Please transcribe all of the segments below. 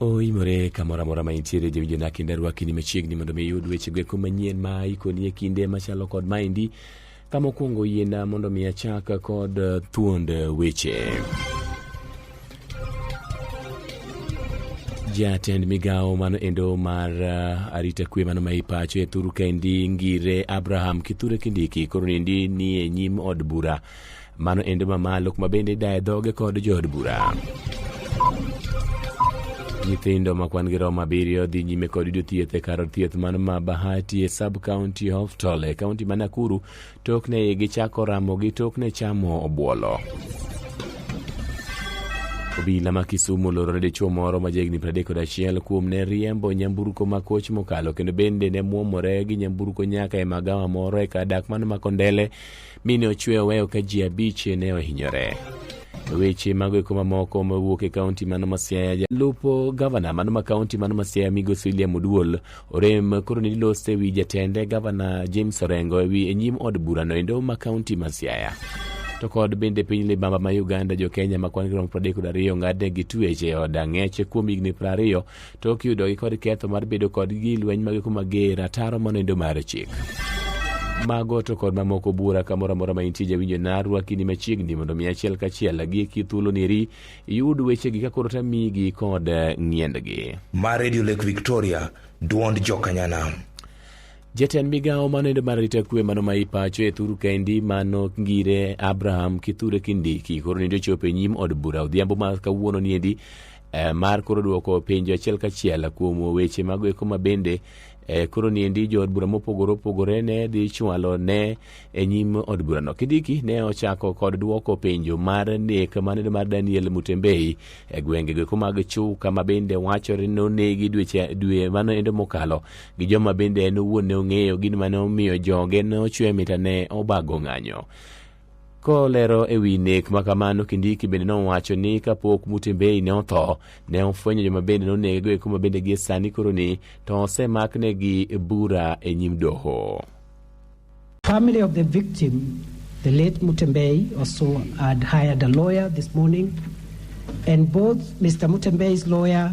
oimore kamoro amora ma intiere jawinjo na kinda rwaki ni machiegni mondo mi iyud wechego eko manyien ma ikoni e kinde machalo kod maendi ka mokwongo yiena mondo mi achak kod eh, thuond eh, weche jatend migawo mano endo mar uh, arita kwe mano ma ipacho e thuru kaendi ngire abraham kithure kindiki koro niendi ni e nyim od bura Mano endo mamalo kuma bende idaye dhoge kod jood bura. Nyithindo ma kwan gi romo abiriyo dhi nyime kod yudo thieth e kar thieth man ma Bahati e sub county hospital e kaunti ma Nakuru tokne igi chako ramo gi tokne chamo obuolo. Obila ma Kisumu oloro ne dichuo moro ma jahigni 31 kuom ne riembo nyamburko ma koch mokalo kendo bende ne mwomore gi nyamburko nyaka e magawa moro e kar dak man Makondele mi ne ochwe oweyo ka ji abich ne ohinyore. Weche mago eko mamoko mawuok e kaunti mano ma Siaya. Jalupo gavana mano ma kaunti mano ma Siaya migosi William Oduol orem koro ne lose ewi jatende gavana James Orengo ewi e nyim od burano endo ma kaunti ma Siaya. To kod bende piny libamba ma Uganda jo Kenya ma kwan girom 32 ng'adnegi tuech e od ang'eche kuom higni 20 to ok yudogi kod ketho mar bedo kod gi lweny mage kuma ger ataro monindo mar chik mago to kod mamoko bura kamoro amora ma intie jawinjo narwaki ni machiegni mondo mi achiel kachiel gi kithuolo neri iyud wechegi ka koro tamigi kod eh, ng'iendgi ma radio lake victoria duond jokanyanam jatend migawo manende mar arita kwe mano ma ipacho e thuru kendi mano ngire abraham kithure kindiki koro nende ochopo e nyim od bura odhiambo ma kawuono niendi eh, mar koro dwoko penjo achiel kachiel kuom weche mago eko ma bende eh, koro niendi jood bura mopogore opogore ne dhi chwalo ne e nyim od burano kidiki ne ochako kod dwoko penjo mar nek maneno mar daniel mutembei e gwenge go eko mag chuka ma bende wachore nonegi dweche dwe mano endo mokalo gi joma bende en owuon ne ong'eyo gin mane omiyo joge ne ochwe mita ne obago ng'anyo Kolero e wi nek ma kamano, Kindiki bende nowacho ni kapok Mutembei ne otho, ne ofwenyo joma bende nonegego eko ma bende gie sani koroni to osemaknegi bura e nyim doho. Family of the victim, the late Mutembei, also had hired a lawyer this morning, and both Mr. Mutembei's lawyer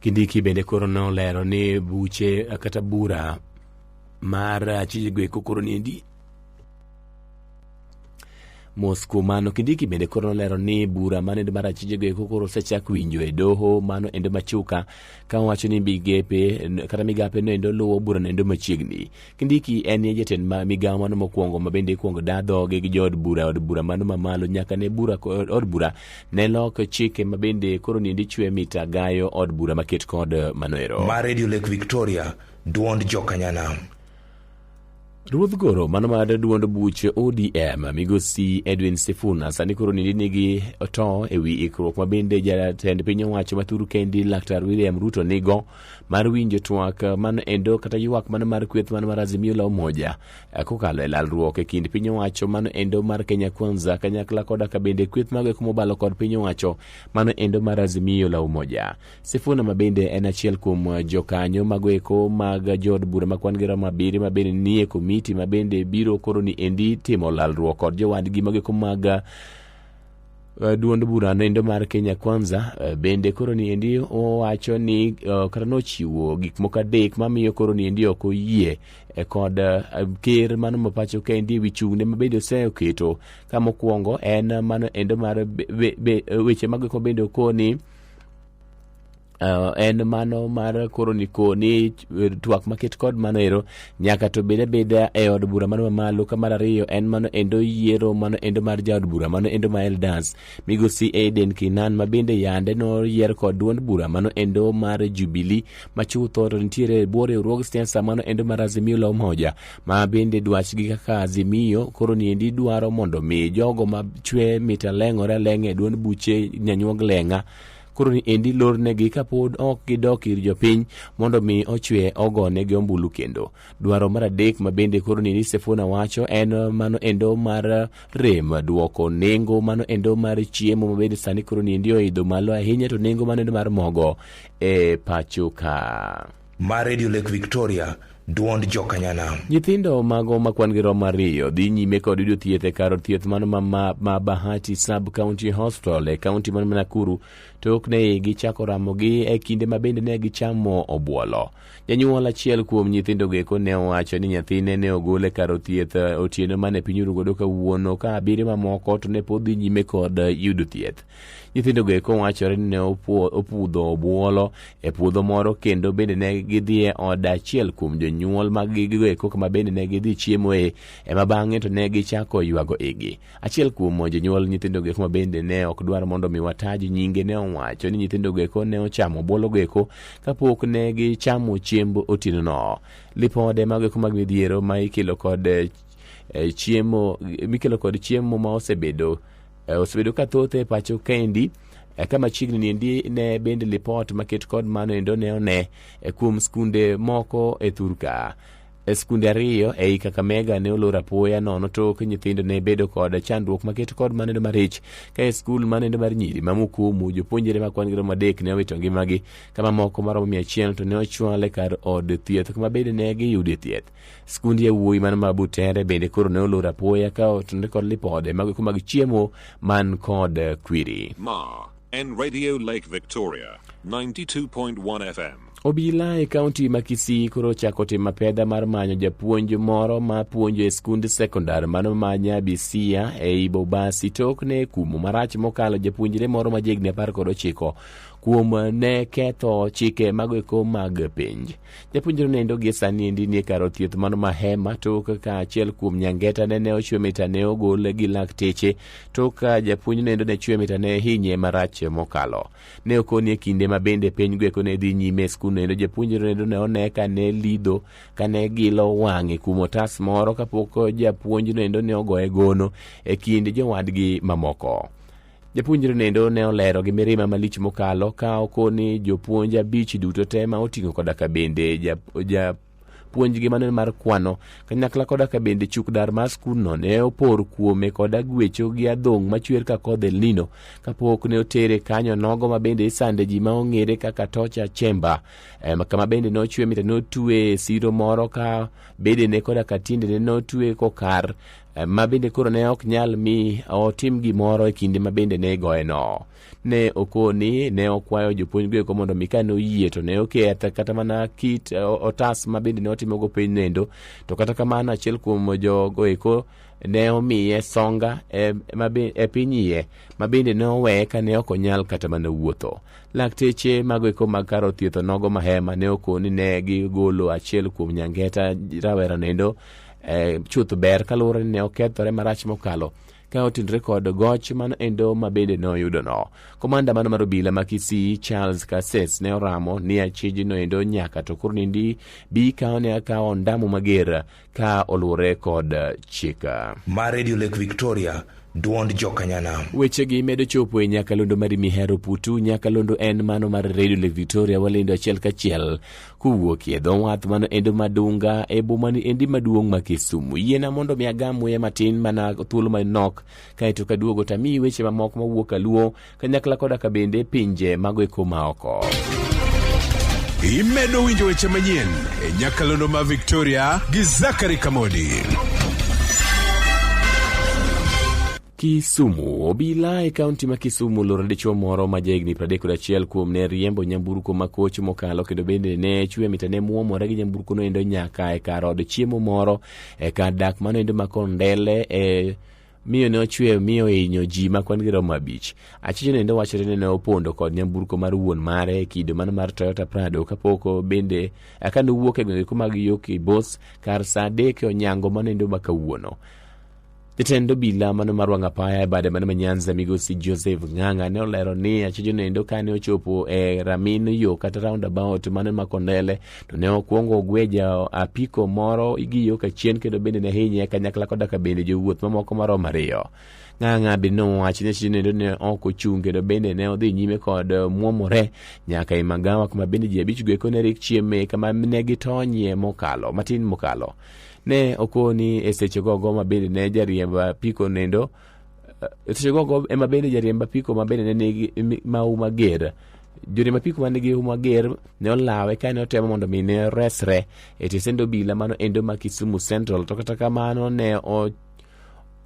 Kindiki bende koro nolero ni buche kata bura mar achijego eko koro niendi mos kuom mano kindiki bende koro nolero ni bura mane mar achijego eko koro osechak winjo e doho mano endo machuka ka wacho ni migepe kata migape no endo luwo bura no endo machiegni Kindiki en ye jatend ma migawo mano mokwongo ma bende ikwongo da dhoge gi jood bura od bura mano mamalo nyaka ne bura od bura ne lok chike ma bende koro nindi chwe mita gayo od bura maket kod manoero ma radio lake victoria duond jokanyanam Ruodh Goro mano mar duond buche ODM migosi Edwin Sifuna sani koro nindi nigi to ewi ikruok ma bende jatend piny owacho ma thuru kendi Laktar William Ruto nigo mar winjo twak mano endo kata ywak mano mar kweth mano mar Azimio la Umoja eh, kokalo e lalruok e kind piny owacho mano endo mar Kenya Kwanza kanyakla koda ka bende kweth mago eko mobalo kod piny owacho mano endo mar Azimio la Umoja. Sifuna ma bende en achiel kuom eh, jokanyo mago eko mag jood bura ma kwan gi romo abiriyo ma bende nie komiti ma bende biro koro ni endi timo lalruok kod jowadgi mago eko mag Uh, duond bura noendo mar Kenya Kwanza uh, bende koro niendi owacho ni uh, kata nochiwo gik moko adek mamiyo koro niendi ok oyie eh, kod uh, ker mano ma pacho kendi ewi chung'ne ma bende oseketo ka mokwongo en mano endo mar be, be, be, weche mageko bende okoni Uh, en mano mar koro niko ni eh, twak maket kod mano ero nyaka to bed abeda e od bura mano mamalo ka mar ariyo en mano endo yiero mano endo mar jaod bura mano endo ma elders migosi aden kinan ma bende yande noyier kod duond bura mano endo mar jubilee ma chutho to nitiere e bwo riwruog siasa mano endo mar azimio la umoja ma bende dwachgi kaka azimio koro niendi dwaro mondo mi jogo ma chwe mit aleng'ore aleng'a e duond buche nyanyuog leng'a koro ni endi lornegi kapod ok gidok ir jopiny mondo mi ochwe ogone gi ombulu kendo dwaro mar adek ma bende koro ni Sifuna wacho en mano endo mar rem duoko nengo mano endo mar chiemo ma bende sani koro ni endi oidho malo ahinya to nengo mano endo mar mogo e pacho ka ma redio lake victoria duond jokanyanam Nyithindo mago ma kwan-gi romo ariyo dhi nyime kod yudo thieth e kar thieth man ma, ma, ma Bahati Sub County Hospital e kaunti man ma Nakuru to ok ne gichako ramogi e kinde ma bende ne gichamo obuolo. Janyuol achiel kuom nyithindogo eko ne owacho ni nyathine ne ogol e kar thieth eh, otieno mane piny orugodo kawuono ka abiriyo mamoko to ne pod dhi nyime kod eh, yudo thieth. Nyithindogo eko wachore ni ne opuo- opudho obuolo e puodho moro kendo bende ne gidhi e od achiel kuom jonyuol mag gigo eko kama bende ne gidhi chiemoe ema bang'e to ne gichako ywago igi. Achiel kuom jonyuol nyithindogo eko ma bende ne ok dwar mondo mi wataji nyinge ne owacho ni nyithindogo eko ne ochamo obuologo eko kapok ne gichamo chiemb otienono. Lipode mago eko mag midhiero ma ikelo kod eh, eh, chiemo mikelo kod chiemo ma osebedo E, osebedo ka thoth e pacho kaendi e, ka machiegni niendi ne bende lipot maket kod mano endo ne one e, kuom skunde moko e thurka E, skunde ariyo ei kakamega ne olor apoya nono tok nyithindo ne bedo kod chandruok maket kod mano endo marich ka e skul mano endo mar nyiri ma mukumu jopuonjre ma kwan gi romo adek ne owito ngimagi ka mamoko maromo mia achiel to ne ochwal e kar od thieth kuma bende ne giyude thieth Skund yawuoyi man ma Butere bende koro ne olor apoya ka otenore kod lipode mag eko mag chiemo man kod eh, kwiri. Ma en Radio Lake Victoria 92.1 FM. Obila e kaunti ma Kisii koro ochako timo apedha mar manyo japuonj moro ma puonjo e skund sekondar mano ma Nyabisia ei Bobasi tok ne kumo marach mokalo japuonjre moro ma jehigni apar kod ochiko kuom ne ketho chike mago eko mag penj. Japuonjre nendo gi sani endi nie kar thieth mano Mahema tok ka achiel kuom nyangeta nene ochwe mita ne ogol gi lakteche tok ka japuonj nendo ne chwe mita ne hinye marach mokalo. Ne okoni e kinde ma bende piny gweko ne dhi nyime e skul nendo japuonjre nendo ne one ka ne lido ka ne gilo wang'e kuom otas moro kapok japuonj nendo ne ogoye gono e kind jowadgi mamoko. Japuonjre nendo ne olero gi mirima malich mokalo ka okoni jopuonj abich duto te ma oting'o koda ka bende ja, ja puonjgi mane mar kwano kanyakla koda ka bende chuk dar mar skundno ne opor kuome koda gwecho gi adhong' machwer ka kodh El Nino kapok ne otere kanyo nogo ma bende isande ji ma ong'ere kaka tocha chemba em, kama bende ne ochwe mita ne otwe siro moro ka bedene koda ka tiendene ne otwe kokar ma bende koro ne ok nyal mi otim gimoro e kinde ma bende ne igoyeno. Ne okoni, ne okwayo jopuonjgo eko mondo mi kane oyie to ne oketh kata mana kit eh, otas ma bende ne otimogo piny nendo. To kata kamano achiel kuom jogo eko ne omiye songa e, ma be- e piny iye ma bende ne oweye kane ok onyal kata mana wuotho. Lakteche mago eko mag kar othietho nogo mahema ne okoni ne gigolo achiel kuom nyangeta rawera nendo eh, chuth ber kaluwore ni ne okethore marach mokalo ka otudre kod goch mano endo ma bende ne oyudono komanda mano mar obila ma kisii charles kases ne oramo ni achijno endo nyaka to koro nindi bi kawo ne akawo ondamo mager ka oluwore kod chika ma radio lake victoria dwond jokanyanam wechegi medo chopo e nyakalondo mar mihero putu nyakalondo en mano mar radio lake victoria walendo achiel kachiel Kowuok e dho wath man endo madunga e boma ni endi maduong' ma Kisumu. Yiena mondo mi agam muya matin mana thuolo manok kaeto kaduogo tamiyi weche mamoko mawuok aluo kanyakla koda ka bende pinje mago e koma oko. Imedo winjo weche manyien e nyakalondo ma Victoria gi Zachary Kamodi. Kisumu. Obila e kaunti ma Kisumu oloro dichuo moro ma jahigni 31 kuom ne riembo nyamburko ma koch mokalo kendo bende ne chwe mita ne muomore gi nyamburko noendo nyaka e kar od chiemo moro e kar dak manoendo ma Kondele e miyo ne ochwe miyo hinyo ji ma kwan gi romo abich achiche nende wachore ni ne opondo kod nyamburko mar wuon mare e kido mano mar toyota prado kapok bende aka nowuok e gwenge kuma gi yo kibos kar saa adek e onyango manendo ma kawuono Jatend obila mano mar wang' apaya e bade mano ma Nyanza migosi Joseph Ng'ang'a ne olero ni achijo nendo kane ochopo e ramin yo kata roundabout mano ma Kondele to ne okwongo ogweja apiko moro gi yo kachien kendo bende ne hinye kanyakla koda ka bende jowuoth mamoko maromo ariyo. Ng'ang'a be nowacho ni achijo nendo ne ok ochung' kendo bende ne odhi nyime kod mwomore nyaka e magawa kuma bende ji abich go eko ne rik chieme kama ne gitonyie mokalo matin mokalo. ne okoni e seche gogo ma bende ne jariemb apiko nendo e seche gogo ema bende jariemb apiko ma bende ne nigi mi- mahu mager joriemb apiko ma nigi hu mager ne olawe ka ne otemo mondo mi ne resre e tisend obila mano endo ma kisumu central to kata kamano ne o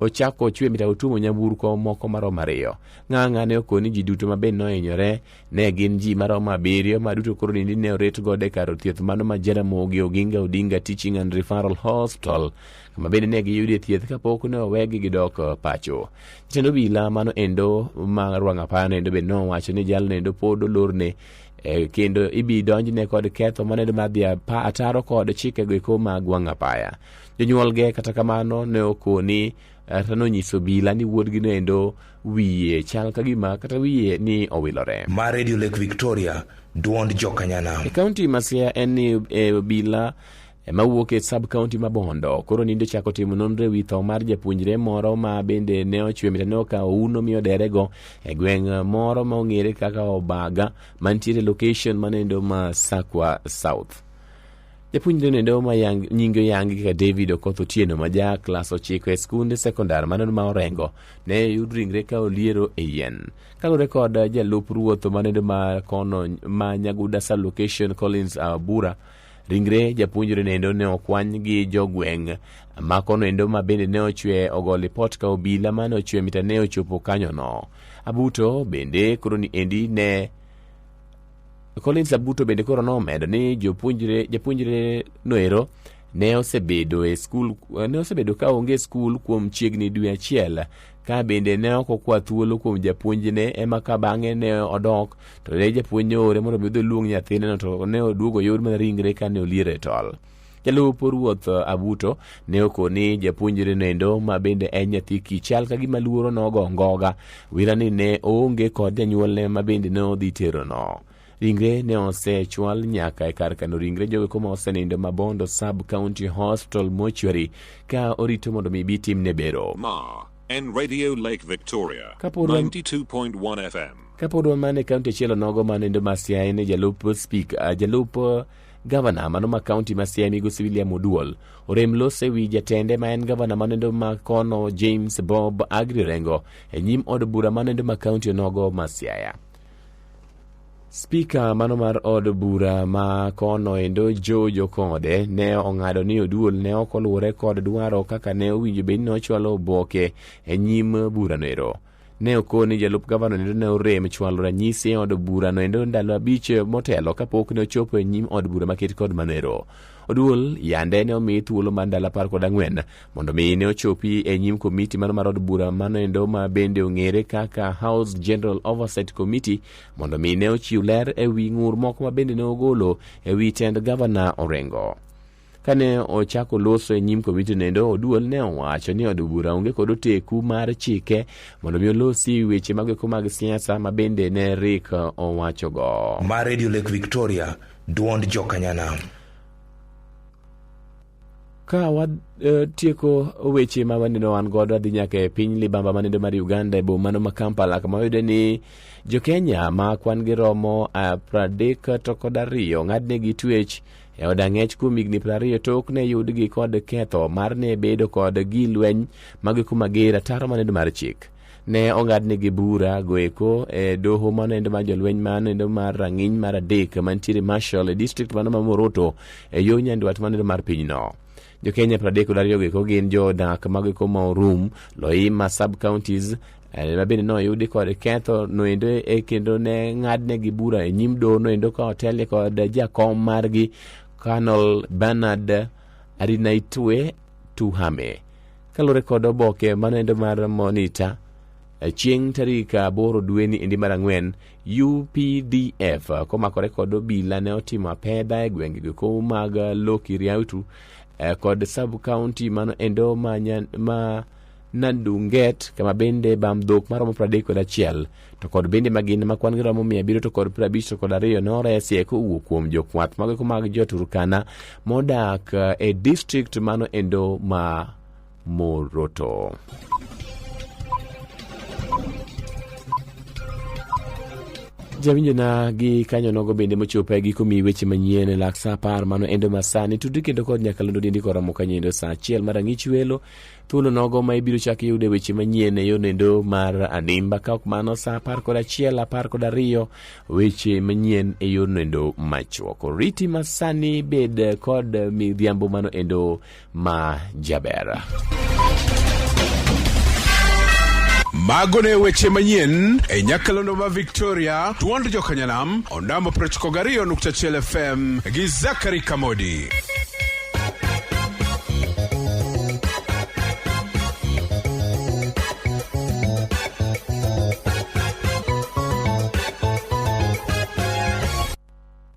ochako ochwe mita otuomo nyamburko moko maromo ariyo ng'ang'a ne okoni ji duto ma bende nohinyore ne gin ji maromo abiriyo ma duto koro nindi ne oret godo e kar thieth mano ma jaramogi oginga odinga teaching and referral hospital kama bende ne giyudie thieth kapok ne owegi gidok eh, pacho jatend obila mano endo ma rwang'apano endo bende nowacho ni jalno endo pod olorne Eh, kendo ibi donjne kod ketho maneno madhi apa- ataro kod chikego eko mag wang' apaya jonyuolge kata kamano ne okoni kata nonyiso bila ni wuodgi noendo wiye chal ka gima kata wiye ni owilore ma radio lake victoria duond jokanyana e kaunti ma siaya en ni e, obila ema wuok e sub kaunti ma bondo koro ninde ochako timo nonro e wi tho mar japuonjre moro ma bende ne ochwe mita ne okawo uno mi oderego e gweng' moro ma ong'ere kaka obaga mantiere location manendo ma sakwa south Japuonjre nendo ma yang, nyinge oyangi kaka David Okoth Otieno ma ja klas ochiko e skunde sekondar mano ma Orengo ne yud ringre ka oliero e yien. Kaluwore kod jalup ruoth manendo ma kono ma Nyaguda Sub Location Collins Abura ringre japuonjre nendo ne okwany gi jogweng' ma kono endo ma bende ne ochwe ogo lipot ka obila mane ochwe mita ne ochopo kanyono. Abuto bende koro ni endi ne Collins Abuto bende koro nomedo ni jopuonjre japuonjre noero ne osebedo e skul ne osebedo ka onge e skul kuom chiegni dwe achiel ka bende ne ok okwa thuolo kuom japuonjne ema ka bang'e ne odok to ne japuonj ne oore mondo mi odhi oluong nyathineno to ne oduogo yor mana ringre ka ne oliero e tol. jalup ruoth abuto ne okoni japuonjre nendo ma bende en nyathi kichal ka gima luoro nogo ngoga wirani ne oonge kod janyuolne ma bende ne odhi terono ringre ne osechwal nyaka e kar kano ringre jogo kuma osenindo mabondo sub county hospital mortuary ka orito mondo mi bi timne bero Ma en Radio Lake Victoria Kapod wan- 92.1 FM. kapod wamane kaunti achielo nogo ma nindo masiaye ne jalup spika jalup Gavana mano ma kaunti ma Siaya migosi William Oduol orem los ewi jatende ma en gavana manendo ma kono James Bob Agri Rengo e nyim od bura manendo ma kaunti onogo ma Siaya. Spika mano mar od bura ma kono endo Joe Jokode ne ong'ado ni Oduol ne ok oluwore kod dwaro kaka ne owinjo bed ni ochwalo oboke e nyim burano ero. ne okon ni jalup gavana endo ne orem chwalo ranyisi e od burano endo ndalo abich motelo kapok ne ochopo e nyim od bura maket kod manero oduol yande ne omi thuolo mar ndalo apar kod ang'wen mondo mi ne ochopi e nyim komiti mano mar od bura mano endo ma bende ong'ere kaka house general oversight committee mondo mi ne ochiw ler e wi ng'ur moko ma bende ne ogolo e wi tend gavana orengo Kane ochako loso e nyim komiti nendo, Oduol ne owacho ni od bura onge kod oteku mar chike mondo mi olosi weche mag eko mag siasa ma bende ne Rick owachogo. ma Radio Lake Victoria, duond jokanyanam. Ka watieko weche ma waneno wan godo adhi nyaka e piny libamba manendo mar Uganda e bomano ma Kampala kama wayude ni jo-Kenya ma kwan gi romo ah, pradek to kod ariyo ng'adnegi twech e od ang'ech kuom higni piero ariyo tok ne yudgi kod ketho mar ne bedo kod gi lweny mag kuma ger ataro manendo mar chik ne ong'adnigi bura goeko e doho manendo mar jolweny manendo mar rang'iny mar adek mantiere marshal e district mano ma moroto e yo nyandwat manendo mar pinyno jokenya 32 go eko gin jodak mago eko ma orum loima sub counties eh, ma bende noyudi kod ketho noendo e kendo ne ng'adnegi bura e nyim doho noendo ka otelie kod jakom margi Colonel Bernard Arinaitwe Tuhame kaluwore kod oboke manoendo mar Monitor eh, chieng' tarik aboro dweni endi mar ang'wen UPDF komakore kod obila ne otimo apedha e gwenge giko mag Loki Riautu eh, kod sub county mano endo ma, nyan, ma Nandunget kama bende bam dhok maromo pradek kod achiel to kod bende magin ma kwan giromo mia abiriyo to kod prabich to kod ariyo noresie kowuok kuom jokwath mago mako mag joturkana modak eh, e district mano endo ma Moroto. jawinjona gi kanyo nogo bende mochopo e giko mi weche manyien e lak sa apar mano endo masani tudri kendo kod nyakalondo dindi koromo kanyendo sa achiel mar ang'ich welo thuolo nogo ma ibiro chak yude weche manyien e yonendo mar adimba ka ok mano sa apar kod achiel apar kod ariyo weche manyien e yonendo machuok riti masani bed kod midhiambo mano endo ma jaber. Mago ne weche manyien e Nyakalondo ma Victoria, Tuond Jokanyanam, Ondamo 92.1 FM gi Zakari Kamodi.